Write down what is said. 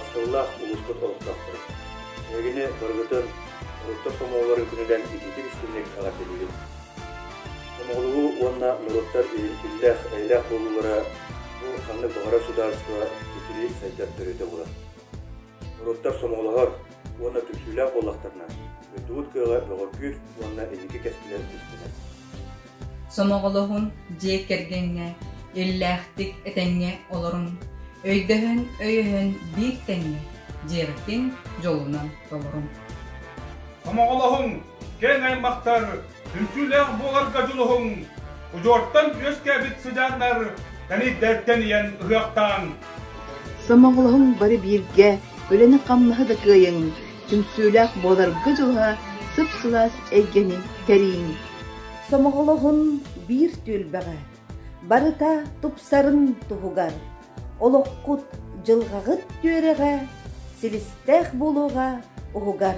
Маскылаах улууспут олохтоохторо, эһигини барыгытын Оруттар сомоҕолор үкүнүнэн ититик истинник эҕэрдэлиибин. Сомоҕолугу уонна норуоттар иһилтиллээх эйэлээх буолуулара бу ханнык баҕарар судаарыстыба ситири сайдар төрүтэ булар. Уруттар сомоҕолоһор уонна түмсүүлээх буоллахтарына, дойдубут кыаҕа бөҕөргүүр уонна инники кэскилэр түстүнэр. Сомоҕолоһун дьиэ кэргэҥҥэ иллээхтик этэҥҥэ олорун, өйдөһөн өйөһөн биир тэҥҥэ дьиэбитин дьолунан толорун. Сомоҕолоһун киэҥ аймахтар Үҥкүүлээх буоларга дьулуһуҥ, удьуортан үөскээбит сыдьааннар тэнийдэртэн ийэн ыһыахтааҥ. Сомоҕолоһуҥ бары бииргэ, үлэни-хамнаһы да кыайыҥ, түмсүүлээх буоларга дьулуһа, сып-сылаас эйгэни кэриҥ. Сомоҕолоһун биир түөлбэҕэ, барыта тупсарын туһугар, олоххут, дьылҕаҕыт түөрэҕэ, силистээх буолуоҕа уһугар.